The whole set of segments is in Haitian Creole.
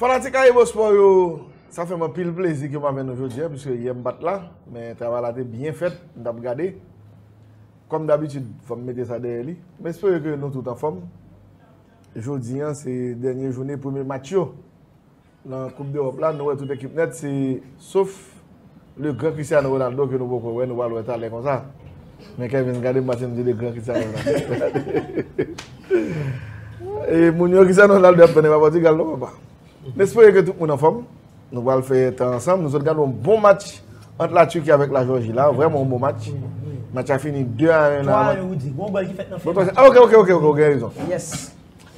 Fanatik Ayibo Sport yo, sa fè m anpil plezi ke m avè nou jodi a, pwiske yè m pa t la, men travay la te byen fèt, m t ap gade. Kòm dabitid, fò m mete sa dèyè li. M espere ke nou tout anfòm. Jodi an se dènye joune premye match yo. Nan koup dewòp la nou wè tout ekip nèt se sof le gran Cristiano Ronaldo ke nou poko wè nou pral wè talè konsa men Kevin gade m pase m di le gran Cristiano Ronaldo e moun yo Cristiano Ronaldo ap tann epa Portugal non papa m espere ke tout moun anfòm nou pral fè tan ansanm nou sot gade yon bon match ant la Turquie avèk la Georgie la vrèman yon bon match match a fini 2 a 1 nan 3 a 1 ou di gwo gòl ki fèt nan fen match la ok ok ok ou gen rezon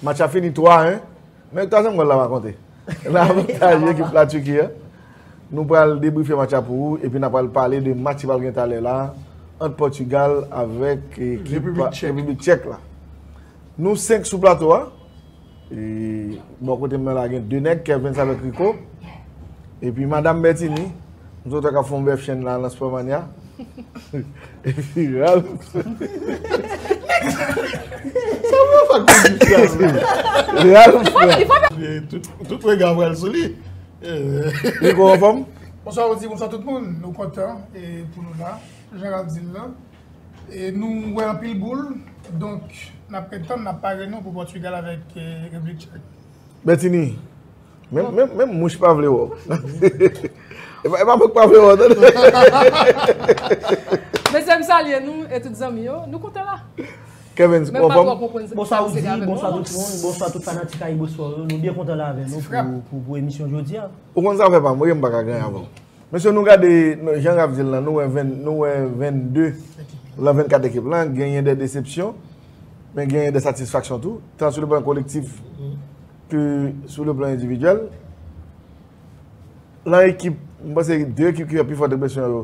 match a fini 3 a 1 Men twazyèm gòl la pa konte. Nan avantaje ekip La Turquie a. Nou pral debrife match la pou ou epi nan pral pale de match ki pral gen talè la ant Portugal avèk ekip Repiblik Tchèk la. Nou 5 sou plato a. E bò kote m nan la gen 2 nèg, Kervens avèk Rico. Epi madam Bertini. M sot ak ap fon bèf chen la nan sport mania. Epi ral. Sa m wè fak ti distans li. Ral fè. Tout rega pral sou li. Rico anfom? Bonswa Roody, bonswa tout moun. Nou kontan pou nou la. Jan ralph di l lan. E nou wè anpil boul. Donk nap ret tann, nap pare nou pou Portugal avèk Repblik Tchèk. Bètini. Menm mouch pa vle wè w. E pa mwen k pa vle wè w non. Mesye m salye nou e tout zanmi yo. Nou kontan la. Kevens ou anfòm? Bonswa Roody, bonswa tout moun, bonswa tout fanatik AyiboSport yo. Nou byen kontan la avè nou pou emisyon jodi a. Ou konn zafè pa m wi, m pa ka gen avè w. Mesye nou gade jan Raph di l lan, nou wè 22 lan 24 ekip lan, genyen de desepsyon, men genyen de satisfaksyon tou. Tan sou le plan kolektif. Ke sou le plan endividyèl, lan ekip, mwen panse se de ekip ki fè pi fò enpresyon yo,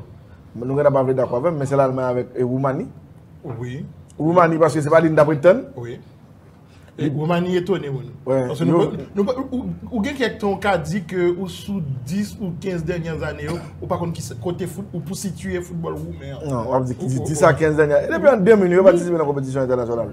nou gen ta pa vle dakò avèm, men se Lalmay avèk Woumani. Wi. Woumani paske se pa li nou ta prèt tann. Wi. E Woumani etone moun. Wi. Paske nou pa, nou pa, ou gen kèk tan ou ka di ke ou sou 10 ou 15 dènyè zane yo, ou pa konn ki sa, kote fout, ou pou sitye foutbòl Woumen an. Non, wap di ki 10 a 15 dènyè, depi an 2000 yo pa tisipe nan konpetisyon entènasyonal.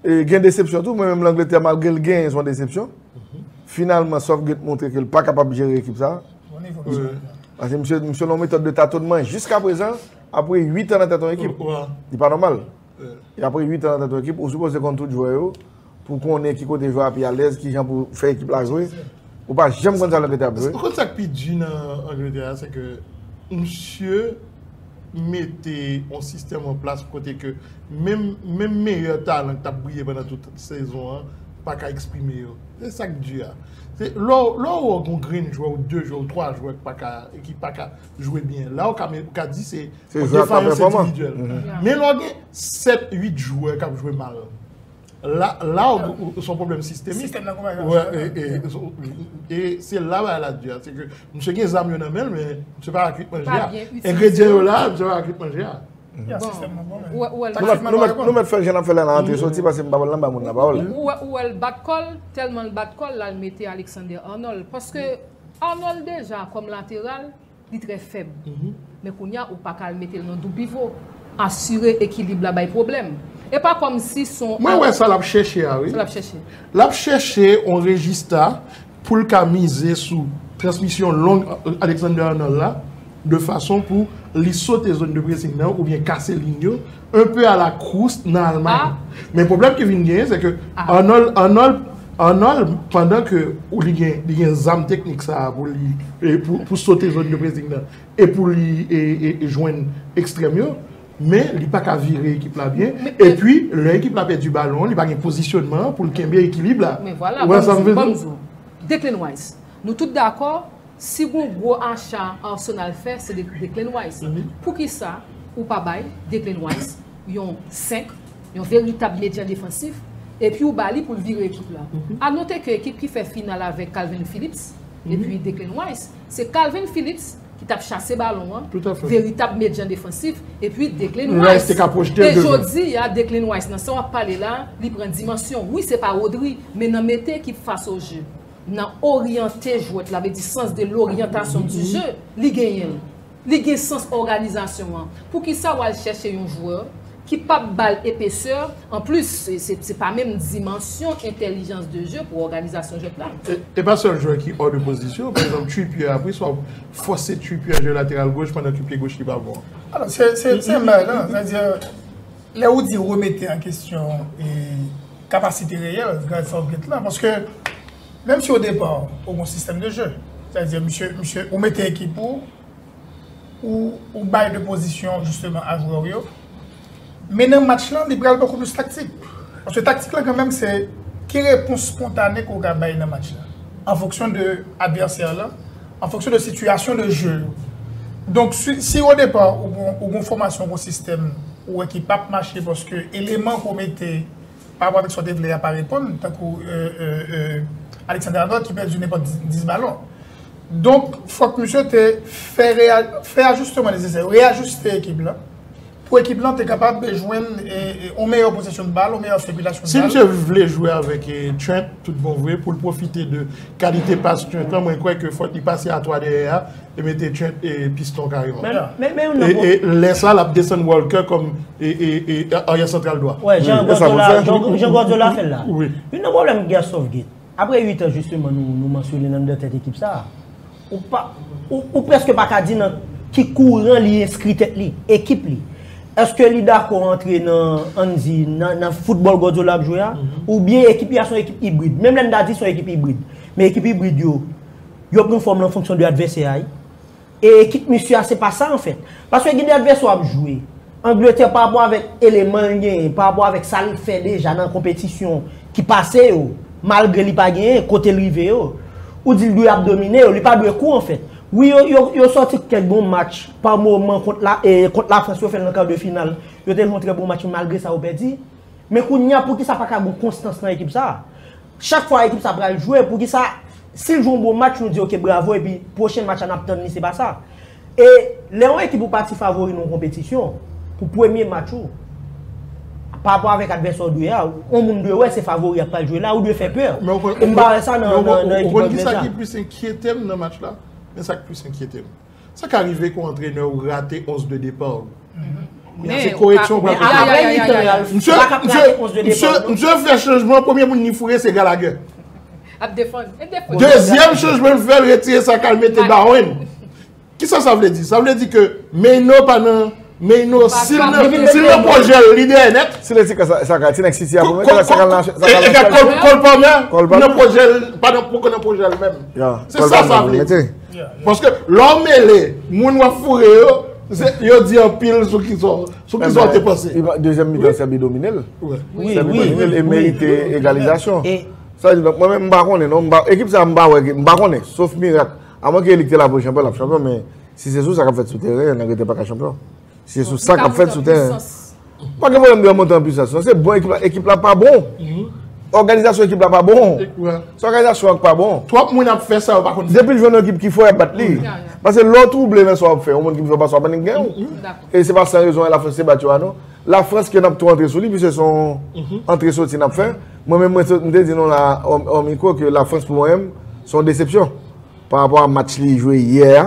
Gen desepsyon tou, mwen menm Langletè malgre l genyen son desepsyon. Finalman Southgate montre ke l pa kapab jere ekip sa. Pase misye misye nan yon metòd de tatonman jiska prezan apre 8 an nan tèt yon ekip. Li pa nòmal. E apre 8 an nan tèt yon ekip, ou sipoze konn tout jwè yo pou konnen ki kote jwè a pi alèz, ki jan pou fè ekip la jwe. Ou pa janm konn sa Langletè ap jwe. Ou konn sa k pi di nan Angletè a se ke misye mete yon sistèm an plas kote ke menm menm meyè talan ki t ap briye pandan tout sezon an pa ka eksprime yo. Se sa k di a. Se lè w lè w wè w gen yon grenn jwè ou de jwè ou twa jwè ki pa ka ki pa ka jwe byen la w ka men ka di se yon defayans endividyèl. Men lè w gen sèt uit jwè k ap jwe mal. Loud ou son problem sistemik. Sistem nan kouman yon. E se la ba la diya. Se ke msye gen zam yo nan menl men msye pa akit manje ya. Engredyen yo la msye pa akit manje ya. Ya sistem nan bon men. Nou met fèl jen ap fèl la nan antre soti pase mpa wèl nan ba moun la pawòl. Ou wèl bat kòl, tèlman l bat kòl lal mete Alexander Arnold. Paske Arnold deja kòm lateral Li trè fèb. Men kounya ou paka al metel nan doupivo. Asire ekilib la bay pwoblèm. E pa kòmsi son. Mwen wè sa lap chèche a wi. Sa lap chèche. Lap chèche on rejista poul ka mize sou transmisyon long Alexander Arnold la de fason pou li sote zone de pressing nan oubyen kase ligne yo. un peu à la Croust nan Almay. Men pwoblèm ki vin genyen se ke Arnold Arnold pandan ke ou li gen li gen zam teknik sa a pou li pou sote zòn de pressing nan e pou li e jwenn ekstrèm yo men li pa ka vire ekip la byen e pwi lè ekip la pèdi balon li pa gen pozisyònman pou l kenbe ekilib la. Men vwala banm di w banm di w Declan Rice nou tout dakò Si gon gwo acha Arsenal fè se de Declan Rice poukisa ou pa bay Declan Rice yon 5 yon veritab medyan defansif epi ou ba li poul vire ekip la. A note ke ekip ki fè final avèk Kalvin Phillips epi Declan Rice se Kalvin Phillips ki tap chase balon an veritab medyan defansif epi Declan Rice e jodi a Declan Rice nan sa wap pale la li pran dimansyon wi se pa Rodri men nan mete ekip fas o je. Nan oryante jwèt la, vle di sans de l'orientation du jeu, li genyen l. Li gen sans òganizasyon an. Poukisa w al chèche yon jwè ki pa p ba l epesè, anplis, se pa menm dimansyon entèlijans de jeu pou òganizasyon jwèt la. E pa sèl jwè ki ò de pozisyon, pa egzanp Trippier a, poukisa w fòse Trippier jwe lateral goch pandan ke pye goch li pa bon? Alò, se menm bagay la. Lè ou di remete an kesyon kapasite reyèl Guy Southgate la, paske menm si odepa ou gon sistèm de je, sa vle di misye ou mete ekip ou, ou bay de pozisyon jisteman a jwè ou yo, men nan match lan li pral bokou plis taktik. Paske taktik la kanmenm se ki repons spontane ke ou ka bay nan match la, an fonksyon de advèsè lan. an fonksyon de sitiyasyon de je yo. Donk si o depa ou gon fòmasyon, ou gon sistèm ou wè ki pap mache paske eleman ke w mete pa rapò avèk sa w te vle a pa reponn tankou Alexander Arnold ki pèdi nenpòt 10 balon. Donk fòk misye te fè ajisteman nesesè yo, reyajiste ekip la. Pou ekip lan te kapab jwenn yon meyè posesyon bal, yon meyè sikilasyon bal. Si misye vle jwe avèk Trent tout bon vre, pou l pwofite de kalite pas Trent lan, mwen kwè ke fòk li pase a 3 dèyè a e mete Trent piston kareman. E lè sa l ap desann Walker kòm aryè santral dwa. Jan Guardiola fè l la. Youn nan pwoblèm Guerre Southgate. Apre 8 an jisteman nou mansyone nan nan tèt ekip sa, ou prèske pa ka di nan ki kouran li enskri tèt li, ekip li. Eske li dakò antre nan, ann di, nan foutbòl Guardiola ap jwe a, oubyen ekip li a son ekip ibrid. Menm lè n ta di son ekip ibrid, men ekip ibrid yo, yo pran fòm lan fonksyon de advèsè a wi. E ekip misye a se pa sa an fèt. Paske gen de advèsè w ap jwe. Angletè pa rapò avèk eleman l genyen, pa rapò avèk sa l fè deja nan konpetisyon ki pase yo, malgre li pa genyen, kote l rive yo. Ou di l dwe ap domine yo, li pa dwe kou an fèt. Wi yo sòti kèk bon match pa moman kont Lafrans yo fè l nan kar de final. Yo te jwe yon trè bon match men malgre sa yo pèdi. Men kounye a poukisa pa ka gen yon konstans nan ekip sa a? Chak fwa ekip sa pral jwe poukisa sil jwe yon bon match nou di ok bravo epi pwochen match la nap tann li se pa sa e lè yon ekip ou pa ti favori nan yon konpetisyon pou premye match ou pa rapò avèk advèsè ou dwe a yon moun dwe wè se favori a pral jwe la ou dwe fè pè e m pa wè sa nan ekip anglè sa. Ou konn kisa ki plis enkyetem nan match la men sa ki plis enkyetem. Sa ka rive kon antrenè ou rate 11 de depa ou. Men se koreksyon ou pral fè. Apre mitan an Ralph, ou pa ka rate 11 de depa ou. Misye fè chanjman, premye moun li foure se Gallagher. Ap defann. Dezyèm chanjman l fè, l retire Saka l mete Bowen. Kisa sa vle di? Sa vle di ke Maino pa nan Maino si l nan pwojè l, li dèyè nèt. Si l retire Saka, ti nèg City a pou mwen. Saka nan City. Cole Palmer nan pwojè l, pa nan poko nan pwojè l menm. Se sa sa vle di. Paske lè w mele moun w ap foure yo, yo di anpil sou kisa w te panse. Dezyèm mitan Sèbi domine l. Sèbi domine l e merite egalizasyon. Mwen menm m pa konnen non. Ekip sa m pa wè ki, m pa konnen. Sof mirak. Amwenke li ki te la pou chanpyon, l ap chanpyon men si se sou sa k ap fèt sou teren, nèg yo te pa ka chanpyon. Se sou sa k ap fèt sou tèren an. Pa gen pwoblèm de an monte an pwisans non. Se bon ekip la. Ekip la pa bon. Òganizasyon ekip la pa bon. Se òganizasyon an ki pa bon. Twòp moun ap fè sa yo pa konn fè. Depi l jwenn yon ekip ki fò, y ap bat li. Pase lè w twouble nan sa w ap fè, yon moun ki pi fò pase w ap annik gen ou. E se pa san rezon Lafrans te bat yo a non. Lafrans ke n ap tou antre sou li pise se yon antre soti n ap fè. Mwen menm mwen te di nou la ò mikwo ke Lafrans pou mwen menm se yon desepsyon. Parapò a match li jwe yè a.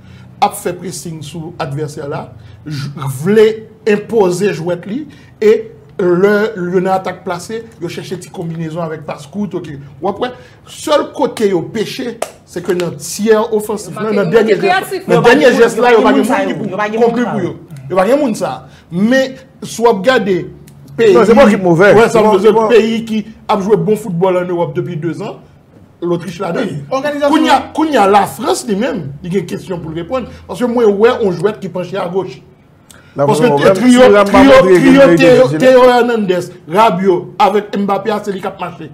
ap fè presing sou advèsè la, vle enpoze jwèt li, e lè yo nan atak plase, yo chèche ti konbinezon avèk pas kout, ok. W ap wè, sèl kote yo peche, se ke nan tyè ofansif la, nan dènye jès la, yo pa gen moun ki pou konkli pou yo. Yo pa gen moun sa. Men, si w ap gade peyi ki ap jwe bon foutbòl an Ewòp depi 2 zan, Lotrich la dan. Kounye a la Frans li menm li gen kesyon pou l reponn. Paske mwen wè yon jwèt ki panche a goch. Paske trio Teo Hernandez, Rabio avèk Mbappé a se li k ap mache.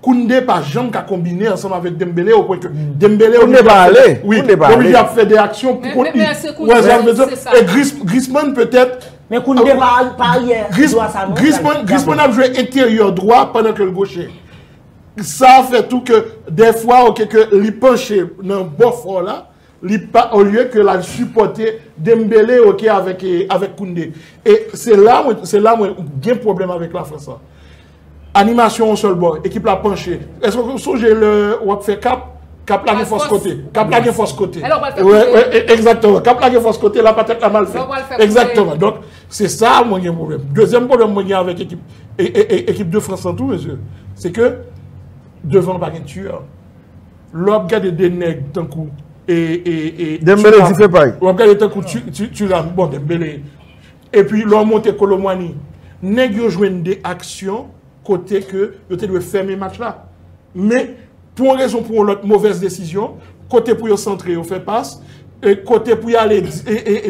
Kounde pa janm ka konbine ansanm avèk Dembele o pwen ke Dembele oblije ap fè 2 aksyon. Kounde pa ale. Oblije ap fè 2 aksyon pou kont li. Ou wè sa m vle di w? E Griezmann petèt. Men Kounde pa aryè dwa sa non. Griezmann ap jwe enteryè dwa pandan ke l gochè. Sa fè tou ke dèfwa oke ke li panche nan bò fò la, li pa olye ke lal sipòte Dembele oke avèk Kounde. E se la mwen se la mwen gen pwoblèm avèk Lafrans lan. Animasyon yon sèl bò, ekip la panche. Èske ou sonje lè wap fè kap, kap la gen fòs kote. Kap la gen fòs kote. Egzakteman. Kap la gen fòs kote, la patèt la mal fèt. Egzakteman. Donk, Se sa a mwen gen pwoblèm. Dezyèm pwoblèm mwen gen avèk ekip de Frans lan tou mesye, se ke devan pa gen tiyè. Lè w ap gade de nèg tankou Thuram, wap gade tankou Thuram, bon Dembele, epi lè w monte Kolo Muani, nèg yo jwenn de aksyon kote ke yo te dwe fèmen match la. Men, Pou yon rezon pou yon lòt movèz desizyon, kote pou yo santre yo fè pas, kote pou y'ale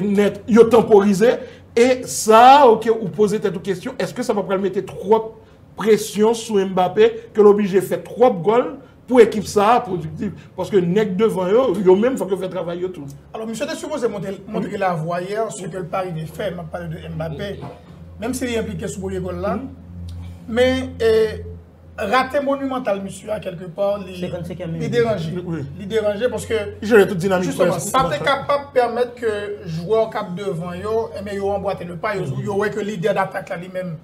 nèt yo tanporize e sa a ok ou poze tèt ou kesyon eske sa pa pral mete twòp presyon sou Mbappé ke l oblije fè twòp gòl pou ekip sa a pwodiktiv paske nèg devan yo, yo menm fòk yo fè travay yo tou. Alò misye te sipoze montre lavwa yè, se ke l pa rive fè, m'ap pale de Mbappé, menm si li enplike sou premye gòl la men e. Rate monumental misye a kelke pa li deranje. Li deranje paske jisteman sa te kapab pèmèt ke jwè k ap devan yo enben yo anbwate le pa. Yo wè ke lidè datak la li menm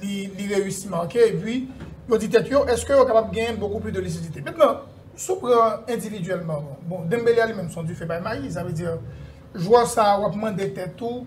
li reyisi make epi yo di tèt yo eske yo kapab genyen bokou pli de lisidite. Mentnan si w pran endividyèlman bon Dembele a li menm se yon dife bay mayi sa vle di jwè sa a w ap mande tèt ou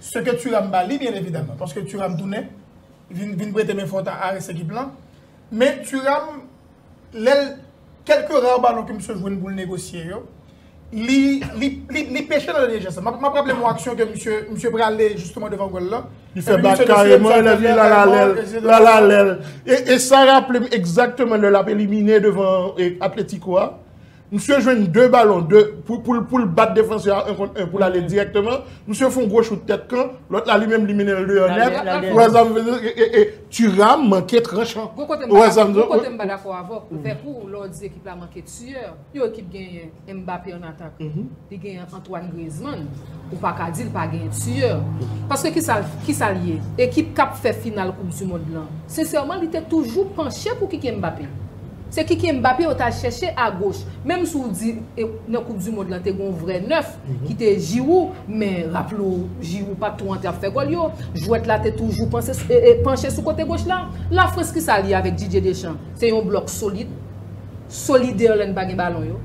Ce que Thuram ba li byen evidaman paske Thuram tounen vin prete men fò ta Aris ekip lan men Thuram lè l kèlke ra balon ke misye jwenn pou l negosye yo li peche nan dènye jès la m ap raple m yon aksyon ke misye misye prale jisteman devan gòl lan li fè bak kareman e lè l ala lè l ala lè l e sa raple m egzakteman lè l ap elimine devan Atlético a. Msye jwenn 2 balon, 2, pou l bat defansè a 1 kont 1 pou l ale dirèkteman. Msye fon gwo chout tèt kan, lòt la li menm li mennen l deyò nèt. Ou wè sa m vle di? E Thuram manke tranchan. Gon kote m pa dakò, gon kote m pa dakò avè w, vèk ou lè w di ekip la manke tueur. Yon ekip genyen Mbappé an atak. Li genyen Antoine Griezmann, ou pa ka di l pa genyen tiyè. Paske ki sa l ye? Ekip k ap fè final koup di mond lan. Sensèman li te toujou panche pou Kiki Mbappé. Se Kiki Mbappé yo t al chèche a goch. Menm si w di nan koup di mond lan te gen yon vrè nèf ki te Giroud, men raple w Giroud pa t twò antre ap fè gòl yo. Jwèt la te toujou panche sou kote goch la. Lafrans ki sa l ye avèk Didier Deschamps? Se yon blòk solid. solidè lè n pa gen balon yo,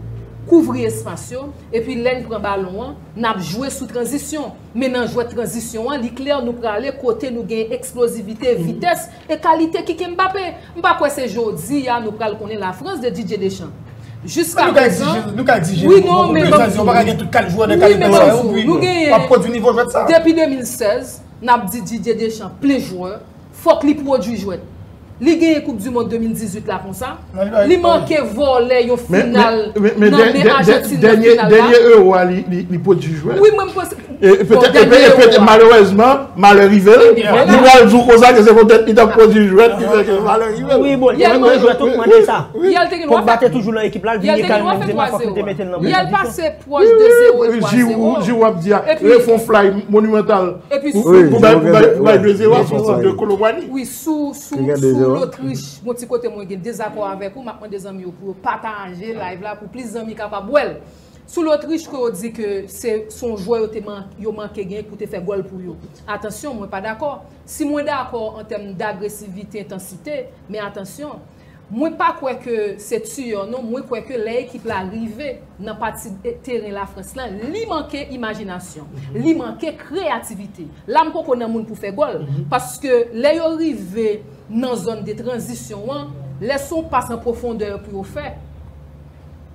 kouvri espas yo, epi lè n pran balon an, n ap jwe sou tranzisyon. Men nan jwèt tranzisyon an, li klè nou prale kote nou gen eksplozivite, vitès, e kalite kike Mbappé. M pa kwè se jodi a nou pral konnen la France de Didier Deschamps. Jiska prezan, wi non men banm di w, wi men banm di w, nou genyen, depi 2016, n ap di Didier Deschamps plis jwè, Fok li prodwi jwet. Li genyen koup du mond 2018 la konsa. Li manke vole yon final nan men Argentine nan final la. Denye euro a li prodwi jwet. Wi mwen m panse. E malerezman male rive l. Li pral jou konsa ke se potet li tap prodwi jwet ki fè ke male rive l. Wi bon li menm nan jwet ou t mande sa. Pogba te toujou nan ekip la l vini kay Benzema fok li te mete l nan bon pozisyon. Pwòch de zewo e twa zewo. Wi, Jirou ap di a. Lè fon flay monimantal pou bay de zewo a son sòt de kolonbwani. Wi, sou lotrich, gon ti kote mwen gen dezakò avèk ou, m ap mande zanmi yo pou yo pataje live la pou plis zanmi kapab wè l. Sou lotrich ke yo di ke se son jwè yo manke gen pou te fè gòl pou yo. Atansyon, mwen pa dakò. Si mwen dakò an tèm dagresivite, entansite, men atansyon. Mwen pa kwè ke se Tuor non, mwen kwè ke lè ekip la rive nan pati teren Lafrans lan, li manke imajinasyon, li manke kreyativite. La m poko nan moun pou fè gòl, paske lè yo rive nan zòn de tranzisyon an, lè se yon pas an pwofondè pou yo fè,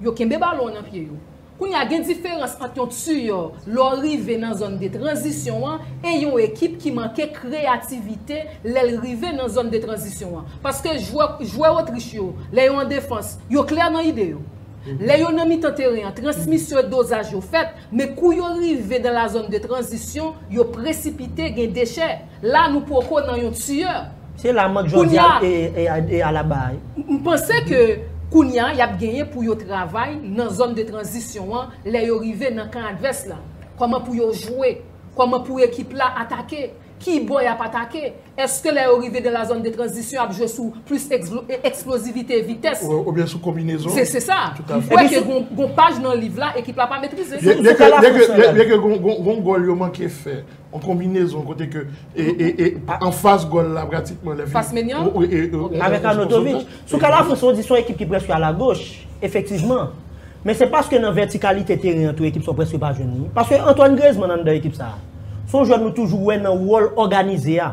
yo kenbe balon an nan pye yo. Kounye a, gen diferans ant yon tiyò lè w rive nan zòn de tranzisyon an e yon ekip ki manke kreyativite lè l rive nan zòn de tranzisyon an. Paske jwè jwè Otrich yo, lè yo an defans, yo klè nan ide yo. Lè yo nan mitan teren an, transmisyon e dozaj yo fèt, men kou yo rive dan la zòn de tranzisyon, yo presipite, gen dechè. La nou poko nan yon tueur. Se la mant Jordia e Alaba a. M panse ke kounya yap genyen pou yo travay nan zòn de tranzisyon an lè yo rive nan kan advès la. Kòman pou yo jwe? Kòman pou ekip la atake? Ki bò yap atake? Eske lè yo rive dan la zòn de tranzisyon ap jwe sou plis eksplozivite, vitès? Oubyen sou konbinezon? Se se sa. M kwè ke gon paj nan liv la ekip la pa metrize. Byen ke gon gòl yo manke fè. Yon konbinezon kote ke anfas gòl la pratikman lè fas Maignan avèk Arnautovic sou ka la Frans ou di son ekip ki prèske ala goch efektivman men se paske nan vètikalite teren an tou ekip sa ou prèske pa jwenn li paske Antoine Griezmann anndan ekip sa son jwè nou toujou wè nan wòl òganize a.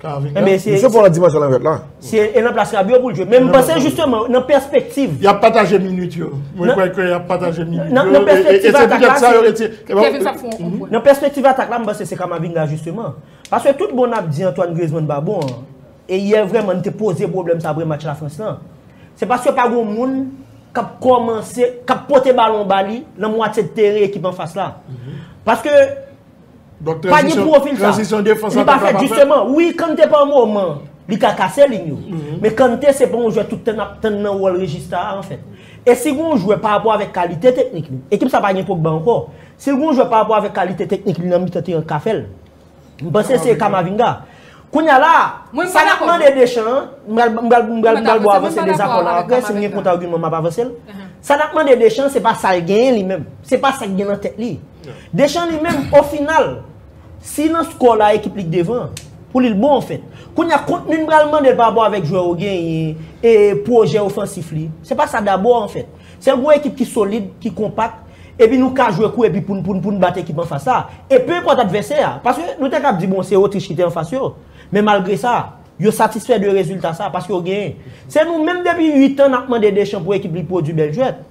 Enben se. Misye pran nan dimansyon lanvèt la. Se e nan plas rab yo pou l jwe. Men m panse jisteman nan pèspektiv. Y ap pataje minit yo. Mwen kwè ke y ap pataje minit yo. Nan pèspektiv atak la. E se poutèt sa yo retire. Kevin sa fon konpwen. Nan pèspektiv atak la m panse se Kamavinga jisteman. Paske tout bon n ap di Antoine Griezmann pa bon an. E yè vrèman n te poze pwoblèm sa apre match Lafrans lan. Se paske pa gon moun k ap kòmanse, k ap pote balon ba li nan mwatye teren ekip anfas la. Paske. Pa gen pwofil sa. Tranzisyon defans atak la pa fèt. Li pa fèt jisteman. Wi, Kante pa moman li ka kase liy yo. Men Kante se pa yon jwè tout tan n ap tann nan wòl Regista a anfèt. E si gen yon jwè parapò avèk kalite teknik li. Ekip sa pa gen Pogba ankò. Si l gen yon jwè parapò avèk kalite teknik li nan mitan teren k ka fè l. M panse se Kamavinga. Kounya la a, sa nap mande Deschamps an, m pral m pral bò avanse dezakò la aprè, si m gen kont agiman m ap avanse l, sa nap mande Deschamps se pa sa l genyen li menm, se pa sa k gen nan tèt li. Deschamps li menm o final, si nan skò la ekip li k devan an, pou li l bon an fèt. Kounya kontni n pral mande l pa rapò avèk jwè ou genyen e pwojè ofansif li, se pa sa dabò an fèt. Se yon ekip ki solid, ki konpak, epi nou ka jwe kou epi poun poun poun bat ekip anfas la. E pe enpòt advèsè a. Paske nou te kab di bon se Otrich ki te anfas yo. Men malgre sa, yo satisfè de rezilta sa paske yo genyen. Se nou menm depi 8 an nap mande Deschamps pou ekip li pwodui bèl jwèt.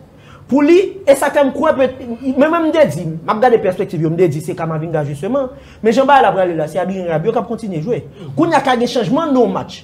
Pou li, e sak fè m kwè pèt, men mwen m te di, map gade pèspektiv yo, m te di se Camavinga jisteman, men jan bagay la prale la se Adrien Rabiot kap kontinye jwe. Kounya ka gen chanjman nan yon match.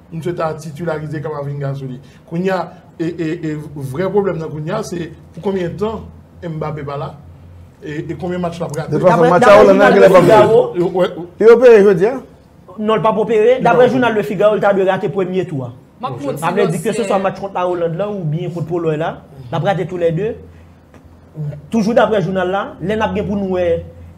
Msye ta titularize kaba vin ga souli. Kounya e vrè problem nan kounya se pou konbyen tan Mbappe pa la? E konbyen match lap rate? Yo peye jodi a? Non l pa pou peye. Dabre jounal le Figaro l ta dwe rate premye tou a. Sa vle di ke se swa match kont la Oland la ou byen kont Poloy la. Lap rate tou le 2. Toujou daprè jounal la, lè n ap gen pou n wè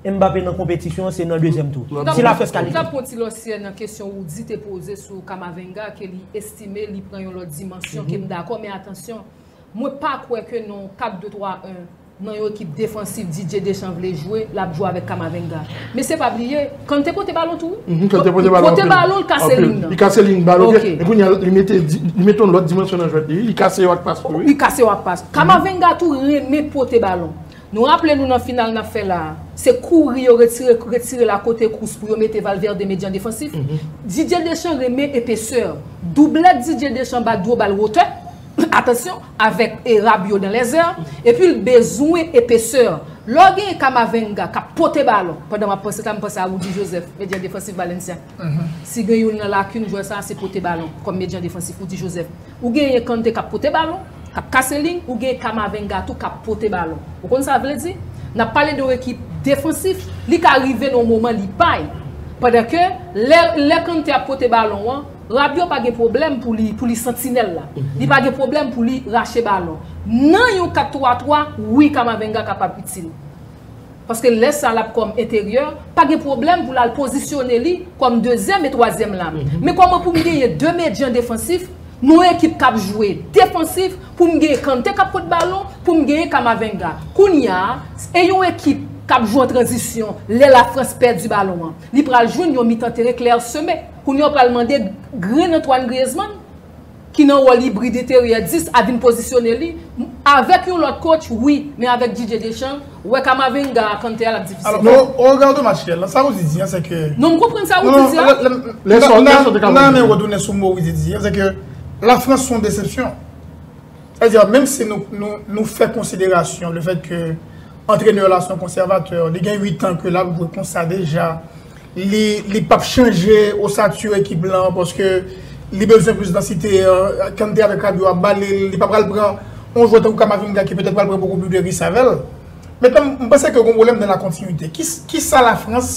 Mbappé nan konpetisyon an se nan dezyèm tou, si la France kalifye. M t ap pran ti lòsyè nan kesyon Roody te poze sou Camavinga ke li estime li pran yon lòt dimansyon ke m dakò men atansyon, mwen pa kwè ke nan yon 4 2 3 1 nan yon ekip defansif Didier Deschamps vle jwe l ap jwe avèk Camavinga. Men se pa bliye, Kante pote balon tou wi. Mh kante pote balon anpil. Pote balon li kase lin nan. Li kase lin bal ok. Ok. Epi kounye li mete li mete yon lòt dimansyon nan jwèt li wi. Li kase yo ak pas tou wi. Li kase yo ak pas. Kamavenga tou renmen pote balon. Nou raple nou nan final nap fè la a. Se kouri yo retire retire l akote kous pou yo mete Valverde medyan defansif. Didier Deschamps renmen epesè. Doublèt Didier Deschamps ba dwo bal wotè. atansyon, avèk e rab yo dan lè zè, epi l bezwen epesè. Lò gen Kamavenga k ap pote balon, pandan m ap panse sa, m panse a Rudy Joseph, medyan defansif Valencia. Si gen youn nan lakin jwè sa a, se pote balon, kòm medyan defansif Rudy Joseph. Ou genyen Kante k ap pote balon, k ap kase liy, ou genyen Kamavenga tou k ap pote balon. Ou konn sa vle di? N ap pale de yon ekip defansif, li ka rive nan yon moman li pay. Pandan ke lè Kante ap pote balon an, Rabiot pa gen pwoblèm pou li pou li santinèl la. Li pa gen pwoblèm pou li rache balon. Nan yon 4 3 3, wi Camavinga kapab itil. Paske lè sa lap kòm enteryè, pa gen pwoblèm pou lal pozisyone li kòm dezyèm e twazyèm la. Men kòman pou m genyen 2 medyan defansif nan yon ekip kap jwe defansif pou m genyen Kante kap pot balon, pou m genyen Camavinga. Kounya a, e yon ekip kap jwe an tranzisyon lè Lafrans pèdi balon an. Li pral jwenn yon mitan teren klèseme. Kounye a w pral mande grenn Antoine Griezmann ki nan wòl ibrid enteryè 10 a vin pozisyone li avèk yon lòt coach wi men avèk Didier Deschamps wè Camavinga a Kanté a l ap difisil pou li. Non, regardo match Real lan, sa wou di di an se ke. Non m konprann sa wou di di a. Nan nan men retounen sou mo wou di di an se ke la France son desepsyon. Sa di a menm si nou nou nou fè konsiderasyon le fèt ke antrenè la son konsèvatè, li gen 8 an ke l ap jwe konsa deja, Li pap chanje osature ekip lan paske li bezwen plis dansite, Kante avèk Rabiot ap ba li, li pa pral pran yon jwè tankou Camavinga ki petèt pral pran bokou plis de risk avè l. Mesye m panse ke gen yon pwoblèm nan la kontinuite. Kisa la Frans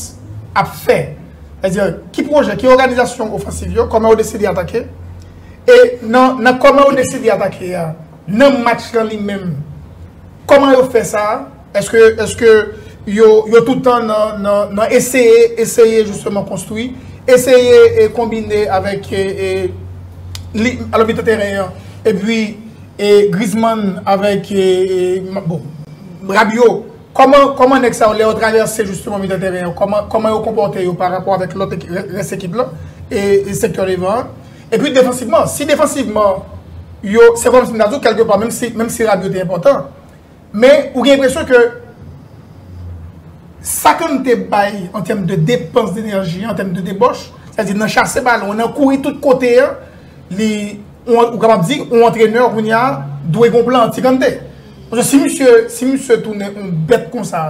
ap fè? Sètadi, ki pwojè, ki òganizasyon ofansiv yo, kòman yo deside atake? E nan kòman yo deside atake a, nan match lan li menm, kòman yo fè sa? Eske eske yo yo tout tan nan nan nan eseye eseye jisteman konstwi, eseye e konbine avèk e e li alò mitan teren an epi e Griezmann avèk e e ma bon Rabiot kòman kòman nèg sa yo lè yo travèse jisteman mitan teren an kòman kòman yo konpòte yo parapò avèk lòt eki rès ekip lan e e sektè devan an epi defansivman si defansivman yo se kòmsi m ta di w kèlkepà menmsi menmsi Rabiot te enpòtan Men ou gen enpresyon ke sa ke nou te bay an tèm de depans denèji, an tèm de debòch, sa di nan chase balon, nan kouri tout kote an, li, ou kapab di, yon antrenè kounye a dwe gen yon plan anti-Kante. Paske si misye, si misye tounen yon bèt konsa,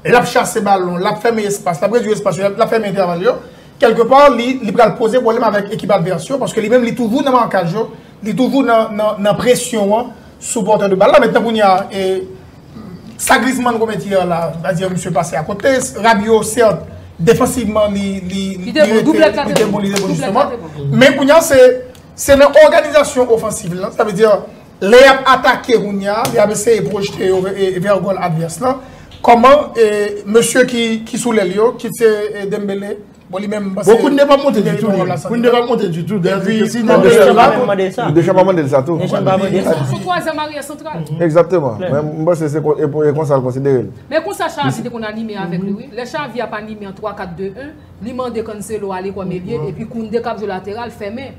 l ap chase balon, l ap fèmen espas, l ap redui espas yo, l ap fèmen entèval yo, kèlke pa li pral poze pwoblèm avèk ekip advès yo, paske li menm li toujou nan makaj yo, li toujou nan presyon an. Sou pòtè de bal la, metten kounye a, e sa Griezmann komèt yè la, va dire misye pase a kote, Rabiot sèt, defansivman li, li, li te bon, doublèt la te bon, doublèt la te bon, men kounye a se, se nan òganizasyon ofansiv lan, sa vle dire, lè yap atake kounye a, yap eseye pwojte yo vè gòl advès lan, kòman e mesye ki, ki sou lèl yo, kit se Dembele. Bon li menm panse. Bon Kounde pa monte du tout li. Kounde pa monte du tout. Depi. Non Deschamps pa menm mande sa. Deschamps pa mande l sa tou. Deschamps pa mande sa. Son twazyèm aryè santral. Exactement. Men m panse se konsa l konsidere l. Men konsa Xavi te konn anime avèk li wi. Lè Xavi ap anime an 3-4-2-1, li mande Cancelo ale kòm elye epi Kounde k ap jwe lateral fèmen.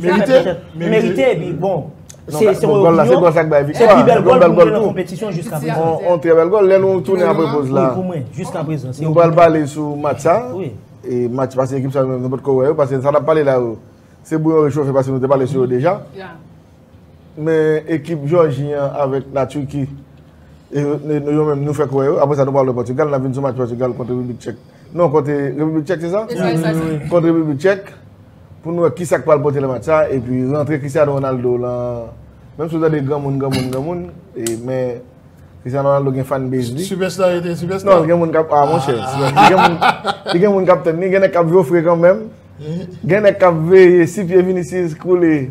Merite? Merite epi bon. Se yon yon yon. Se yon sak bay viktwa. Se pi bel gol pou mwen nan kompetisyon jiska prezant. On tre bel gol. Lè nou tounen apre poz la. Pou mwen. Jiska prezant. Nou pral pale sou match sa. Oui. E match sa se ekip sa nou pot ko wè yo. Pase sa nap pale la yo. Se bouyon rechofe pase nou te pale sou yo deja. Ya. Men ekip Georgie an avek la Turquie. E nou yo men nou fek wè yo. Apre sa nou pral wè Portugal. Nap vin sou match Portugal kontre Republik Tchèk. Non kontre Republik Tchèk se sa? E sa e sa. Kontre Republik Tchèk. Pou nou wè kisa k pral pote nan match sa epi rantre Cristiano Ronaldo lan menm si w tande granmoun granmoun granmoun men Cristiano Ronaldo gen fan base li. Sipèsta li te sipèsta. Non gen moun kap a monchè. Li gen moun kap tann li gen nèg kap jofre kanmenm. Gen nèg kap veye si pye Vinicius koule.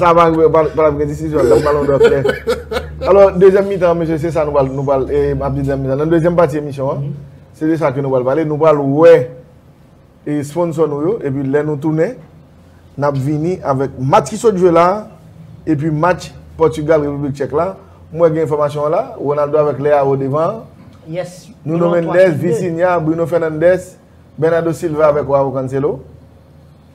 Sa va rive, pa nan gen desizyon nan balon dò klè. Alò, dezyèm mitan, mesye, se sa nou pral, nou pral, e map di dezyèm mitan. Nan dezyèm pati emisyon an, se de sa ke nou pral pale. Nou pral wè e sponsò nou yo, epi lè nou tounen, nap vini avèk match ki sot jwe la, epi match Pòtugal, Repiblik Tchèk la. M wè gen enfòmasyon la, Ronaldo avèk Leao devan an. Yes. Nuno Mendes, Vitinha, Bruno Fernandes, Bernardo Silva avèk Joao Cancelo.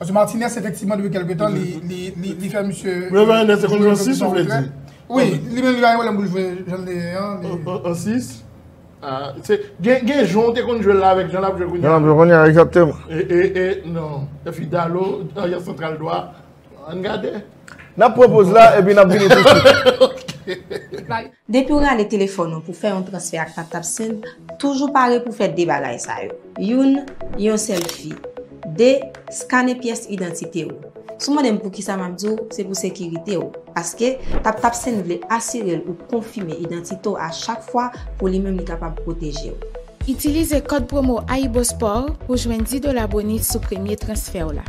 Paske Martinez efektivman depi kelke tan li fè misye. Yo vè Ernest se konn yon 6 ou vle di? Wi, li menm li bay pwoblèm pou l jwe jan li ye an. An 6? Gen jan ou te konn jwe l la avèk jan l ap jwe kounya. Jan l ap jwe kounya egzakteman. E non, epi Dallo aryè santral dwa, ann gade. N ap pran poz la epi n ap vini tousuit. Ok. Depi w rale telefòn ou pou fè yon transfè ak Taptap Send, toujou pare pou fè 2 bagay sa yo. Youn, Yon sèlfi. 2, Skane pyès idantite ou. Si w mande m poukisa m ap di w, se pou sekirite w. Paske, Taptap Send vle asire l ou konfime idantite w a chak fwa pou li menm li kapab pwoteje w. Itilize kòd pwomo AyiboSport pou w jwenn 10 dola bonus sou premye transfè w la.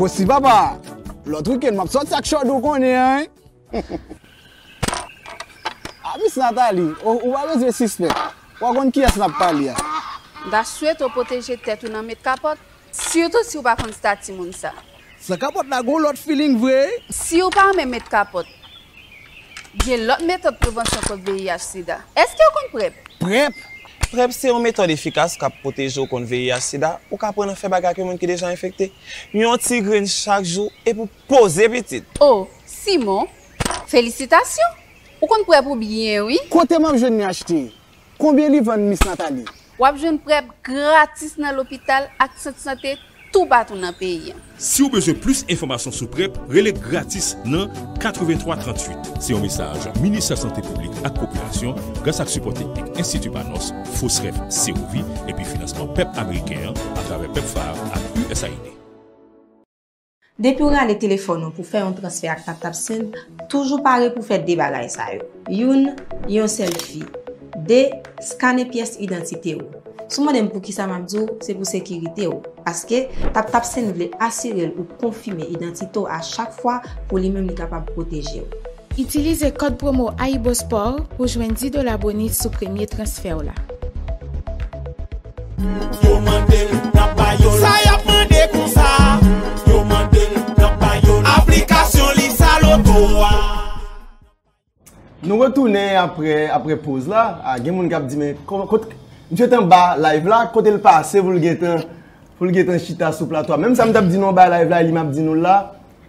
Kosi papa, lòt wikenn map sòti ak chòd ou konnen an. A Miss Nathalie, ou pa bezwen sispèk, wap konn kiyès nap pale a. Mta swete w pwoteje tèt ou nan met kapòt, sitou si w pa konn stati moun sa. San kapòt la gon lòt feeling vre wi. Siw pa renmen met kapòt. Gen lòt metòd prevansyon kont VIH sida. Èskew konn prep? Prep? Prep se yon metòd efikas kap pwoteje w kont VIH sida, ou ka aprann an fè bagay ak yon moun ki deja enfekte. Yon ti grenn chak jou epi w poze pitit! Oh Simon! Felisitasyon! Ou konn prep ou byen wi! Kote map jwenn li achte? Konbyen li vann miss Nathalie? Wap jwenn prep gratis nan lopital ak sant sante toupatou nan peyi an. Si w bezwen plis enfòmasyon sou prep, rele gratis nan 83 38. Se yon mesaj Ministè Sante Piblik ak Popilasyon gras ak sipò teknik Enstiti Panos, Fosref, Sewovi epi finansman pèp ameriken an atravè pepfar ak usaid. Depi w rale telefòn ou pou fè yon transfè ak TapTap Send, toujou pare pou fè 2 bagay sa yo. Youn, Yon sèlfi. 2, Skane pyès idantite ou. Si w mande m poukisa m ap di w, se pou sekirite w. Paske, TapTap Send vle asire l ou konfime idantite w a chak fwa pou li menm li kapab pwoteje w. Itilize kòd pwomo AyiboSport pou jwenn 10 dola bonus sou premye transfè w la. Nou retounen apre apre poz la a gen moun kap di men kot misye t anba live la kote l pase pou l gentan pou l gentan chita sou plato a menm sa m tap di nou anba live la li map di nou la.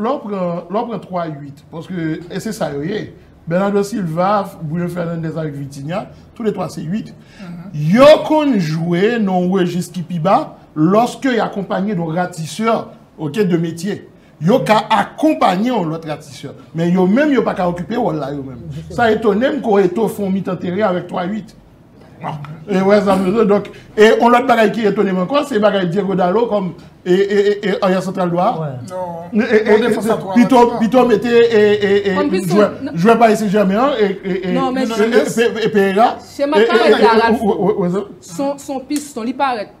Lè w pran, lè w pran 3 8 paske e se sa yo ye, Bernardo Silva, Bruno Fernandes avèk Vitinha, tou le 3 se 8, yo konn jwe nan yon rejis ki pi ba lòske y akonpanye don ratisè ok de metye. Yo ka akonpanye yon lòt ratisè. Men yo menm yo pa ka okipe wòl la yo menm. Sa etone m ko Eto'o fè yon mitan teren avèk 3 8. E wè sa mwen do. E on lòt bagay ki etonem ankò se bagay Diego Dalo kòm e aryè santral dwa. Pito mete e jwè Paris Saint Germain an e Pereira. Chema Carrez la Ralph son piston li parèt.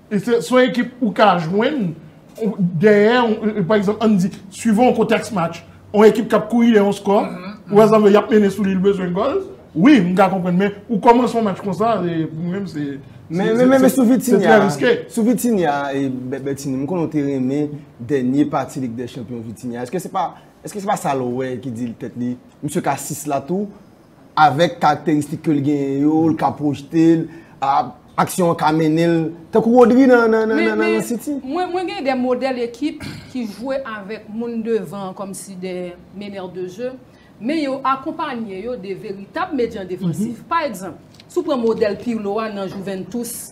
Se yon ekip ou ka jwenn dèyè, pa egzanp, ann di, suivant yon kontèks match, yon ekip k ap kouri dèyè yon skò, ou wè sa m vle di, y ap mennen sou li, li bezwen gòl, wi, m ka konprann, men, ou kòmanse yon match konsa, pou mwen menm, se. Men, men, men, men, sou Vitinha, sou Vitinha, Bètini, m konnen ou te renmen dènye pati Lig dè Chanpyon Vitinha, èske se pa, èske se pa sa l wè ki di l tèt li, misye ka 6 la tou, Avèk karakteristik ke l genyen yo, l ka pwojte l, aksyon an ka mennen l, tankou Rodri nan City. Men, mwen gen de modèl ekip ki jwe avèk moun devan an kòmsi de meneurs de jeu, men yo akonpanye yo de veritab medyan defansif. Pa egzanp, si w pran modèl Pirlo a nan Juventus,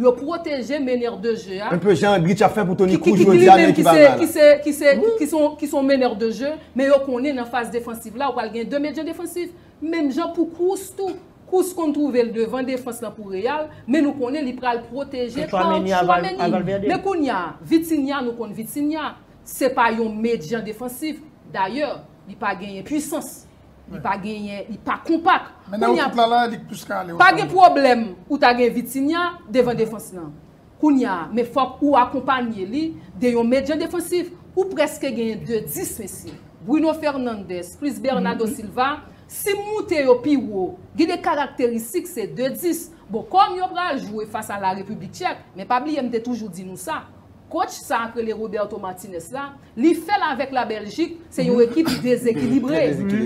Yo pwoteje meneur de jeu a. Enpe jan Grinch ap fè pou Toni Kroos jodi a men ki pa mal. Ki son meneur de jeu men yo konnen nan faz defansiv la ou pral gen 2 medyen defansif. Menm jan pou Kroos tou. Kroos konn twouve l devan defans lan pou Real men nou konnen li pral pwoteje pa Tchouameni. Men kounya Vitinha nou konn Vitinha se pa yon medyan defansif. Dayè li pa genyen pwisans. Li pa genyen, li pa konpak. Mennen yo tout la la, li k plis ka ale yo. Pa gen pwoblèm ou ta gen Vitinha devan defans lan. Kounya, men fòk ou akonpanye li de yon medyan defansif. Ou prèske genyen de 10 mesye. Bruno Fernandes plis Bernado Silva, si m moute yo pi wo, gen de karakteristik se de 10. Bon, kòm yo pral jwe fas a La Repiblik Tchèk, men pa bliye m te toujou di nou sa. Coach sa k rele Roberto Martinez la, li fè l avèk la Bèljik, se yon ekip dezekilibre.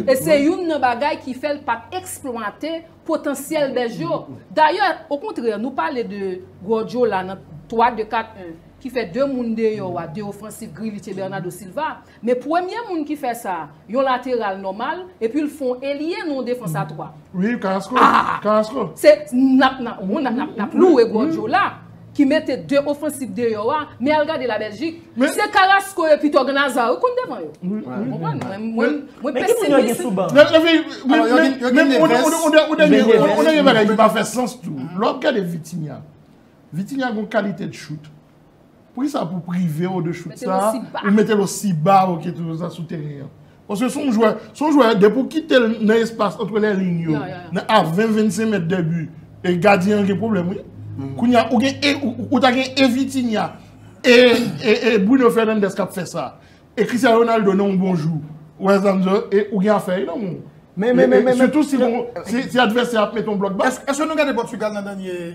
E se youn nan bagay ki fè l pa t eksplwate potansyèl Bèj yo. Dayè, okontrè, nou pale de Guardiola nan 3-2-4-1 ki fè 2 moun deyò a, 2 ofansif, Grealish e Bernardo Silva. Men premye moun ki fè sa, yon lateral nòmal, epi l fon elye non defans a 3. Wi Carrasco, Carrasco. Se nap nap bon nap nap nap louwe Guardiola ki mete 2 ofansif deyò a, men al gade la Belgique. Se Carrasco epi Thorgan Hazard yo konn devan yo. Ou konprann? Mwen mwen pesimis. Epi men ou dènye bagay ki pa fè sans tou, lè wap gade Vitinha, Vitinha gon kalite de choute. Poukisa pou prive w de chout sa a, ou mete l osi ba ou ke toujou sa sou teren an? Paske se yon jwè, se yon jwè depi w kite l nan espas antre lè liy yo, nan a 20, 25 mèt dè bi, e gadyen an gen pwoblèm wi. Kounye a, ou gen e, ou ta gen e Vitinha, e, e, e Bruno Fernandes k ap fè sa, e Cristiano Ronaldo nan yon bon jou, ou wè sa m di w la, e ou gen afè nan men w. Men, men, men, men, men. Sitou si, si advèsè a ap mete yon blòk ba. Èske nou gade Pòtigal nan dènye.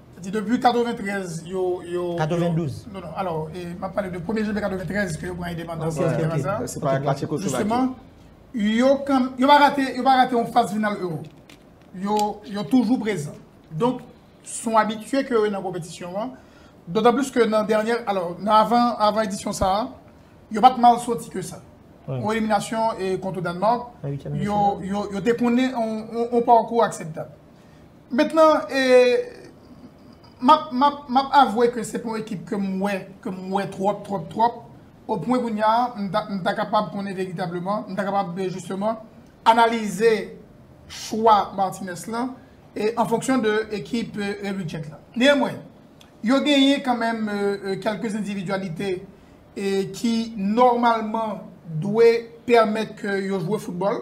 Sa di depi 93 yo, yo. 92. Non, non, alò, e, m ap pale de premye janvye 93 ke yo pran endepandans. Ok, ok, ok. Se pa la Tchekoslovaki. Jisteman, yo kan, yo pa rate, yo pa rate yon faz final Ewo. Yo, yo toujou prezan. Donk, s on abitye ke yo ye nan konpetisyon an. Dotan plis ke nan dènyè, alò, nan avan, avan edisyon sa a, yo pa t mal soti ke sa. An eliminasyon e kontre Dannmark, yo, yo te konnen yon, yon pakou akseptab. Mentnan e map map map avwe ke se pa yon ekip ke m wè ke m wè twòp twòp twòp o pwen kounya m ta m ta kapab konnen veritableman m ta kapab jisteman analize chwa Martinez lan e an fonksyon de ekip Red Ridge lan. Neanmwen, yo genyen kanmenm kèlke endividyalite e ki nòmalman dwe pèmèt ke yo jwe foutbòl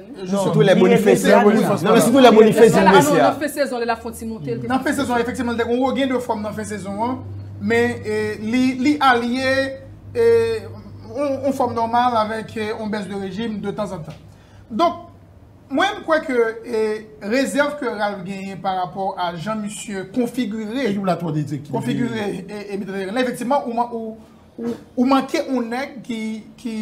Non, sitou lè Boniface la. Non, men sitou lè Boniface vin blese a. Nan fen sezon lè l ap fè yon ti monte. Nan fen sezon efektivman li te gen yon regain de forme nan fen sezon an, men li alye yon forme normale avèk yon baisse de régime de tan an tan. Donk mwen m kwè ke rezèv ke Ralph genyen pa rapò a jan misye konfigire ekip la twò diri, konfigire mitan teren lan efektivman ou manke yon nèg ki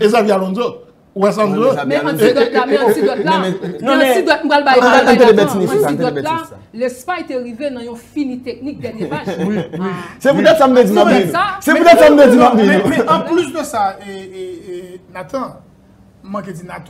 E Xabi Alonso? Ou wè sa m di ou? Men an ti dòt la, men an ti dòt la. Men an ti dòt m pral bay la. Tande bètine sa, tande bètine sa. Lespay te rive nan yon fini teknik dènye match. Se poutèt sa m te di m ap di nou. Se poutèt sa m te di m ap di nou. Men an plis de sa, Nathan, m manke di Nathan.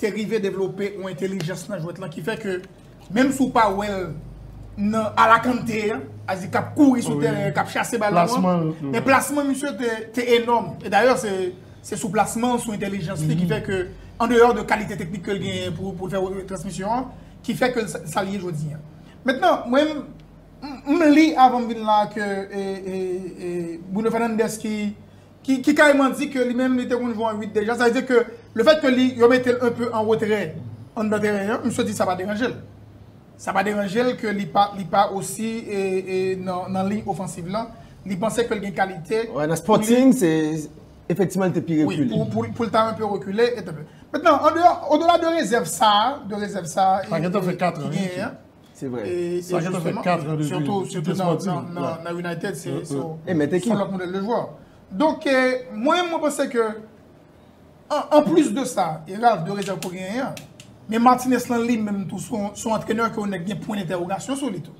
te rive devlope yon entelijans nan jwèt lan ki fè ke menm si w pa wè l nan ala Kante an, Azi k ap kouri sou tèren an, k ap chase balon an, men plasman misye te enòm. E dayè se sou plasman l, sou entelijans li ki fè ke an deyò de kalite teknik ke l genyen pou l fè retransmisyon an ki fè ke l sa l ye jodi an. Mentnan mwen m li avan m vin la ke Bruno Fernandes ki ki kareman di ke li menm li te konn jwe an 8 deja, sa vle di ke le fèt ke li yo mete l enpe an retrè anndan teren an, misye di sa pa deranje l. Sa pa deranje l ke li pa li pa osi nan liy ofansiv lan, li panse ke l gen kalite. Wè nan Sporting se efektiman li te pi rekile. Wi, pou l ta enpe rekile. Mentnan, odela de rezèv sa, de rezèv sa. Pagetan fè 4 an. Se vre. Sa gentan fè 4 an depi. Sitou nan United se yon lòt modèl de jwè. Donk mwen menm mwen panse ke an plis de sa e Ralph dwe rezèv ke w genyen an, men Martinez lan li menm tou son antrenè ke w nèk gen pwen dentèwogasyon sou li tou.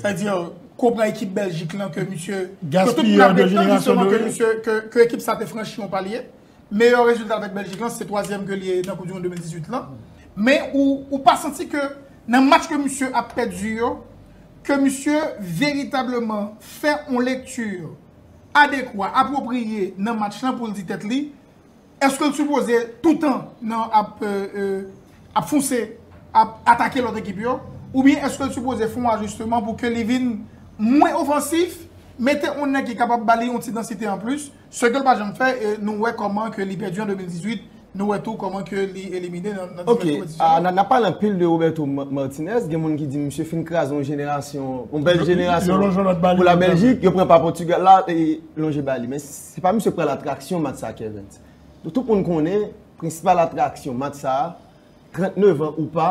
Sa di ke w pran ekip Bèljik lan ke misye. Gaspiyè de jenerasyon doré. Ke ekip sa te franchi yon palye. meyè rezilta avèk Bèljik lan se twazyèm ke li ye nan koup di mond 2018 lan, men ou pa santi ke nan match ke misye ap pèdi yo ke misye veritableman fè yon lekti adekwa, apwopriye nan match lan poul di tèt li eske l sipoze toutan nan ap fonse ap atake lòt ekip yo oubyen eske l sipoze fè yon ajisteman pou ke li vin mwen ofansif, mete yon nèg ki kapab ba li yon ti dansite anplis. Ce ke l pa janm fè e nou wè kòman ke li pèdi an 2018, nou wè tou kòman ke li elimine nan divès konpetisyon yo. Ok, n ap pale anpil de Roberto Martinez, gen moun ki di misye fin kraze yon jenerasyon, yon bèl jenerasyon pou la Bèljik, yo pran pa Pòtugal la, e lonje ba li. Men, se pa misye ki pral atraksyon match sa a, Kervens. Tout moun konnen, prensipal atraksyon match sa a, 39 an ou pa,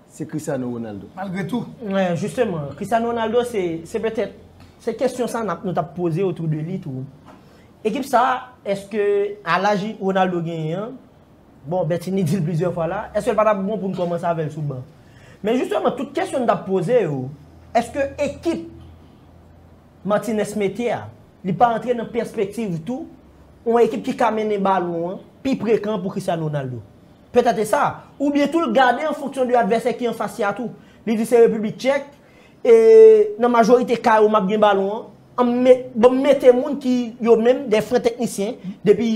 se Cristiano Ronaldo. Malgre tou. Mwen, jisteman, Cristiano Ronaldo se, se petèt, se kesyon sa nap, nou tap poze otou de li tou. Ekip sa, eske a laj Ronaldo genyen an, bon Bertinie di l plizyè fwa la, eske l pa tap bon pou n kòmanse avè l sou ban? Men jisteman, tout kesyon n tap poze yo, eske ekip Martinez mete a, li pa antre nan pèspektiv tou, yon ekip ki ka mennen balon an pi prekan pou Cristiano Ronaldo? Petèt e sa. Oubyen tou l gade an fonksyon de advèsè ki anfas li a tou. Li di se Repiblik Tchèk, e nan majorite ka yo m ap gen balon an, an m bon m mete moun ki yo menm dè fren teknisyen depi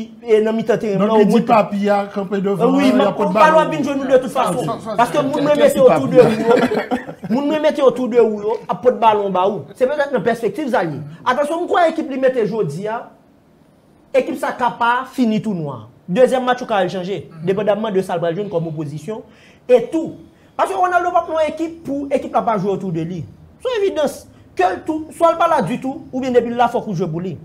nan mitan teren plan. Donk li di papi a kanpe devan an, y ap pot balon. Balon ap vin jwenn nou de tout fason. Paske moun mwen mete otou de ou yo, moun mwen mete otou de ou yo ap pot balon ba ou. Se petèt nan pèspektiv sa l ye. Atansyon m kwè ekip li mete jodi a, Ekip sa ka pa fini tou nwa. Dezyèm match ou ka al chanje, depandamman de sa l pral jwenn kòm opozisyon, e tou, paske Ronaldo p ap nan yon ekip pou ekip la pa jwe otou de li. Son evidans, ke l tou, swa l pa la ditou, oubyen depi l la fòk ou jwe pou li.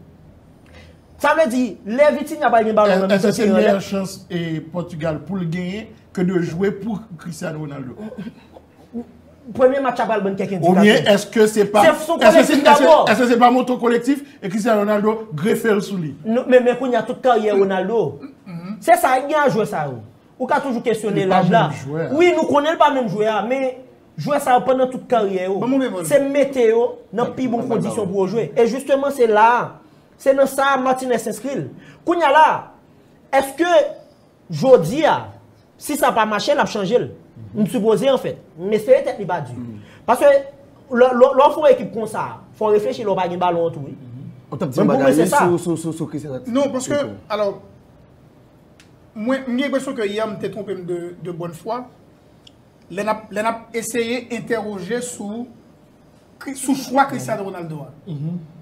Sa vle di, lè Vitinha pral gen balon nan mitan teren an, lè. Èske se meyè chans Pòtigal pou l genyen ke de jwe pou Cristiano Ronaldo? Premye match la pral ban n kèk endikasyon. Oubyen èske se pa. Se sou kolektif dabò. Èske se pa moto kolektif e Cristiano Ronaldo grefe l sou li. Men kounye a tout karyè Ronaldo. Se sa e gen a jwè sa yo. Ou ka toujou kesyone laj la. Li pa menm jwè a. Wi nou konnen li pa menm jwè a. Men jwè sa yo pandan tout karyè yo. Ban m yon bevon. Se mete yo nan pi bon kondisyon pou yo jwe. E jisteman se la a. Se nan sa a Martinez enskri l. Kounye a la a. Èske. Jodi a, si sa pa mache l ap chanje l. M sipoze an fèt. M espere tèt li pa di. Paske lè w fè yon ekip konsa, fò w reflechi lè w pa gen balon an tou wi. Ou t ap di yon bagay sou Chris Herrats? Non, paske, alò, mwen m gen enpresyon ke yè m te twonpe m de bòn fwa, lè n ap eseye entèwoje sou Sou chwa Cristiano Ronaldo a,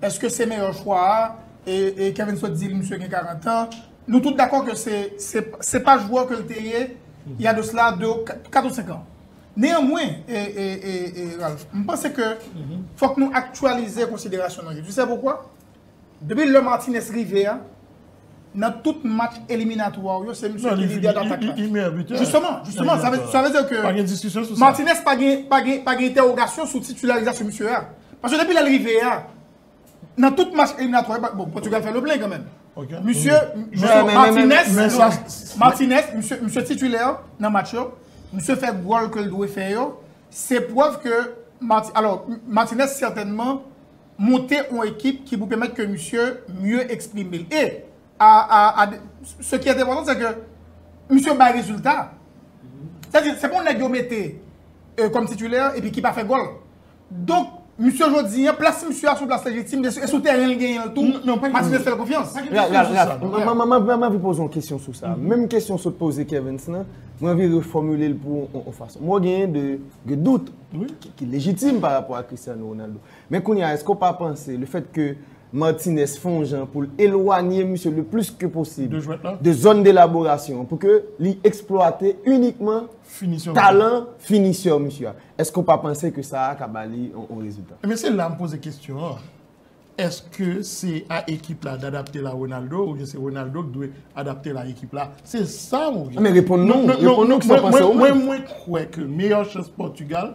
eske se meyè chwa a, e Kevin sot di li misye gen 40 an, nou tout dakò ke se pa jwè ke l te ye il y a de cela 4 ou 5 ans. Neanmwen, Ralph, m panse ke fòk nou aktyalize konsiderasyon nou yo. Tu sais pourquoi? Depi lè Martinez rive a, nan tout match eliminatwa ou yo, se misye ki lidè datak la. Li meyè bitè. Jisteman, jisteman, sa vle di ke. Pa gen diskisyon sou sa. Martinez pa gen, pa gen, pa gen entèwogasyon sou titularizasyon misye a. Paske depi lè li rive a, nan tout match eliminatwa yo, bon, Portugal fè le plein kanmenm. Ok. Misye, jisteman, Martinez, Martinez, misye, misye titulè nan match yo, misye fè gòl ke l dwe fè yo, se prèv ke Marti, alò, Martinez sètènman. monte on ekip ki pou pèmèt ke misye mye eksprime l. E, a, a, a, se ki entepotan se ke misye bay rezilta. Sa di, se pa on nèg yo mete kòm titulè epi ki pa fè gòl. Donk, misye jodi an, plas misye a se on plas lejitim, e sou tèren l genyen l tou, Martinez fè l konfyans. Mwen anvi poze on kesyon sou sa. Menm kesyon sot poze Kervens lan, mwen anvi refòmile l pou on fason. Mwen genyen de dout ki lejitim pa rapò a Cristiano Ronaldo. Men kounye a, èske w pa panse lefètke Martinez fè yon jan pou l elwanye misye le plis ke posib de zòn de laborasyon an pou ke li eksplwate inikman talan finisè misye a, èske w pa panse ke sa a ka ba li yon rezilta? Ebyen se la m poze kesyon an, èske se a ekip la d'adapte la Ronaldo oubyen se Ronaldo ki dwe adapte la ekip la? Se sa m objektif. Reponn nou, reponn nou kisa w panse ou menm. Mwen kwè ke meyè chans Portugal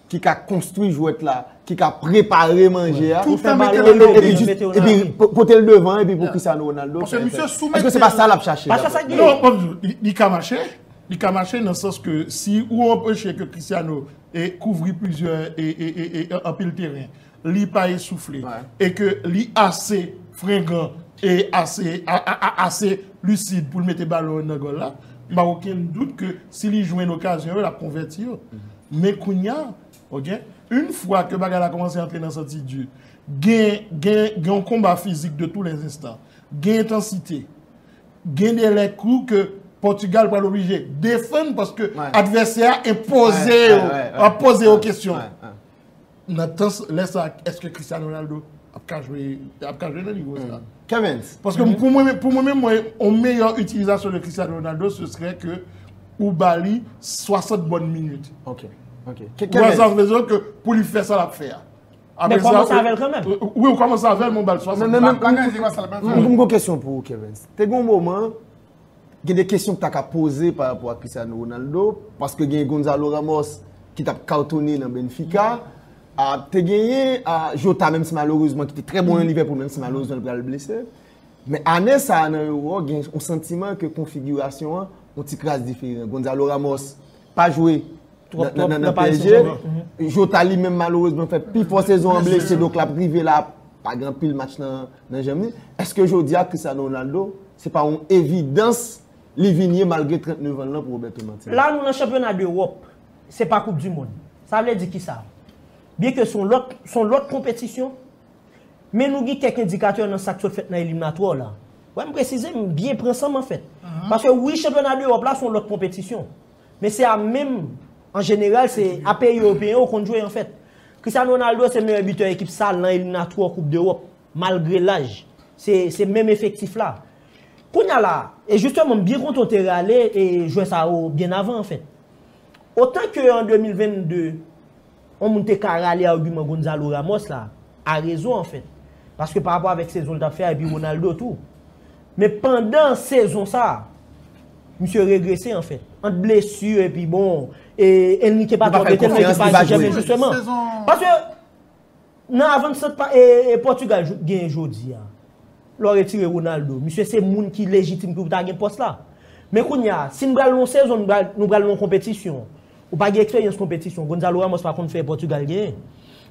ki ka konstwi jwèt la, ki ka prepare manje a, epi pote l devan, epi pou Cristiano Ronaldo fè fè. Eske se pa sa l ap chache? Li ka mache, li ka mache nan sans ke si ou anpeche ke Cristiano kouvri plizyè, anpil teren. li pa esoufle e ke li ase frengan e ase lisid pou l mete balon yo nan gòl la, m pa gen okenn dout ke si li jwenn okazyon yo, l ap konvèti yo. Men kounya, ok, yn fwa ke bagay la kòmanse antre nan santi di, gen yon konba fizik de tou lè zenstan, gen entansite, gen de lè kou ke Pòtigal pral oblije defann paske advèsè a enpoze yo, enpoze yo kesyon. Nan tan lè sa eske Cristiano Ronaldo ap ka jwe ap ka jwe nan nivo sa? Kevens. Paske pou mwen pou mwen menm mwen yon meyè itilizasyon de Cristiano Ronaldo se srè ke ou ba li 60 bòn minit. Ok. Ok. Ou wè sa vle di ke pou li fè sa l ap fè a. Men kòmanse avè l kanmenm. Wi ou kòmanse avè l men ou ba l 60 bòn minit. M gen yon kesyon pou ou Kevens. Te gen yon moman Gen de kesyon ki ta ka poze pa rapò ak Cristiano Ronaldo, paske gen Gonzalo Ramos ki t ap katone nan Benfica, te genyen Jota menm si malerezman ki te trè bon nan Liverpool menm si malerezman li pral blese. Men ane sa a nan Euro gen yon santiman ke konfigirasyon an yon ti kras diferan. Gonzalo Ramos pa jwe nan PSG, Jota li menm malerezman fè pi fò sezon an blese donk l ap rive la pa gen anpil match nan janm li. Eske jodi a Cristiano Ronaldo Se pa yon evidans li vin ye malgre 39 an l lan pou Roberto Martinez. La nou nan chanpyona dEwòp, se pa koup dimond. Sa vle di kisa? Byenke se yon lòt konpetisyon, men nou gen kèk endikatè nan sa k sot fèt nan eliminatwò la. Wè m presize, m byen pran san m an fèt. Paske wi chanpyona dEwòp la se yon lòt konpetisyon, men se a menm an jeneral se a peyi ewopeyen yo konn jwe an fèt. Cristiano Ronaldo se meyè bitè ekip sa l lan eliminatwò koup dEwòp. Malgre laj, se se menm efektif la. Kounya la, e jisteman m byen kontan w te rale e jwè sa yo byen avan anfèt. Otan ke an 2022, on moun te ka rale agiman Gonzalo Ramos la, a rezon anfèt. Paske pa rapò avèk sezon l t ap fè a epi Ronaldo tou. Men pandan sezon sa, misye regrese anfèt. Ant blesi epi bon, e Enrique pa twò mete l nan ekip Paris Saint Germain jisteman. Paske. Nan avansant Pòtigal genyen jodi a, lè w retire Ronaldo, misye se moun ki lejitim pou ta gen pòs la. Men kounye a, si n pral nan yon sezon, nou pral nan yon konpetisyon, ou pa gen eksperyans konpetisyon, Gonzalo Ramos pa konn fè Pòtigal genyen.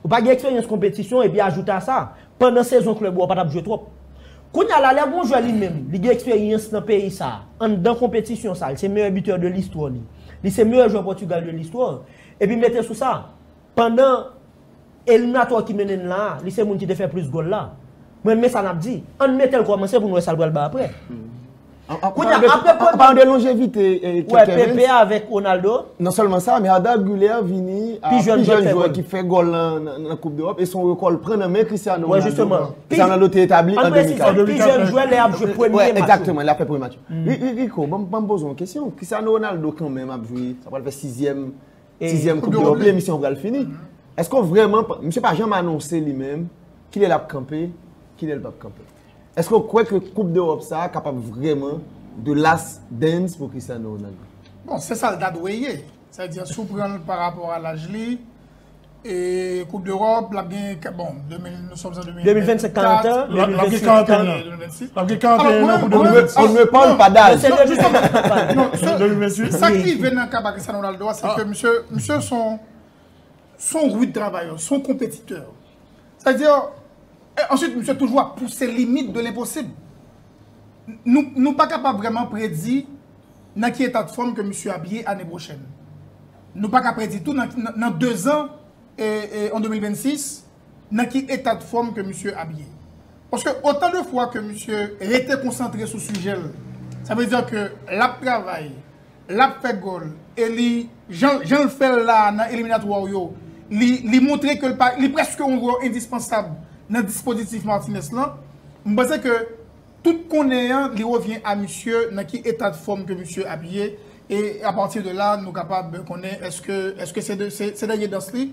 Ou pa gen eksperyans konpetisyon epi ajoute a sa, pandan sezon klèb ou a pa t ap jwe twòp. Kounye a la, lè yon jwè li menm, li gen eksperyans nan peyi sa, anndan konpetisyon sa, li se meyè bitè de listwa li, li se meyè jwè Pòtigal de listwa, epi mete sou sa, Pandan eliminatò ki mennen n la a, li se moun ki te fè plis gòl la. Mwen renmen sa n ap di. An n mete l kòmanse pou n wè sa l pral bay apre. Kounye a, apre Courtois. Anpalan de lonjevite Kevens. Wè, Pepe avèk Ronaldo. Non sèlman sa, men Arda Güler vini a pi jèn jwè ki fè gòl nan koup dEròp e se yon rekò l pran nan men Cristiano Ronaldo. Wè, jisteman. Cristiano Ronaldo te etabli an 2004. An presize, pi jèn jwè lè y ap jwe premye match yo. Wè, egzakteman, lè y ap fè premye match yo. Rico, ban m poze yon kesyon. Cristiano Ronaldo kanmenm ap jwe, sa pral fè sizyèm. Sizyèm koup dewòp li emisyon an pral fini. Eske w vrèman, misye pa janm anonse li menm kilè lap kanpe, kilè l pap kanpe. Eske w kwè ke koup dewòp sa a kapab vrèman the last dance pou Cristiano Ronaldo? Bon, se sa l ta dwe ye. Sa vle di si w pran l parapò a laj li, e koup dewòp lap gen, bon, 2000. 2025 40 ans, 2026 40 ans. Lap gen 41 ans pou 2026. On ne parle pas d'âge. Se de jisèt ane kap pale. Non, se 2026. Sa k rive nan ka pa Cristiano Ronaldo a, se ke misye, misye son, son rude travailleur, son compétiteur. Sa vle dire, e answit misye toujou ap pouse limit de l'impossible. Nou, nou pa kapab vrèman predi nan ki eta de fòm ke misye ap ye ane pwochèn. Nou pa ka predi tou nan, nan 2 zan, e, e an 2026, nan ki eta d'fòm ke misye ap ye. Paske otan de fwa ke misye rete konsantre sou sijè l, sa vle di ke l ap travay, l ap fè gòl, e li, jan l fè l la a nan eliminatwa w yo, li montre ke l pa, li prèske yon jwè endispansab nan dispozitif Martinez lan, m panse ke tout konnen an li revyen a misye nan ki eta d'fòm ke misye ap ye, e apati de la nou kapab konnen èske se dènye dans li,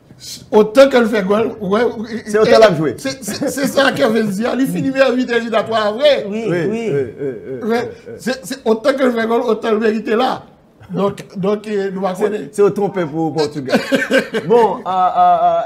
Se otan ke l fè gòl, ou wè. Se otan l ap jwe. Se sa Kervens di a, li fini meyè bitè Jida 3 a vre. Wi, wi. Ou wè, se otan ke l fè gòl, otan l merite la. Donk, donk, nou pa konnen. Se yo twonpe pou Portugal. Bon, a, a, a.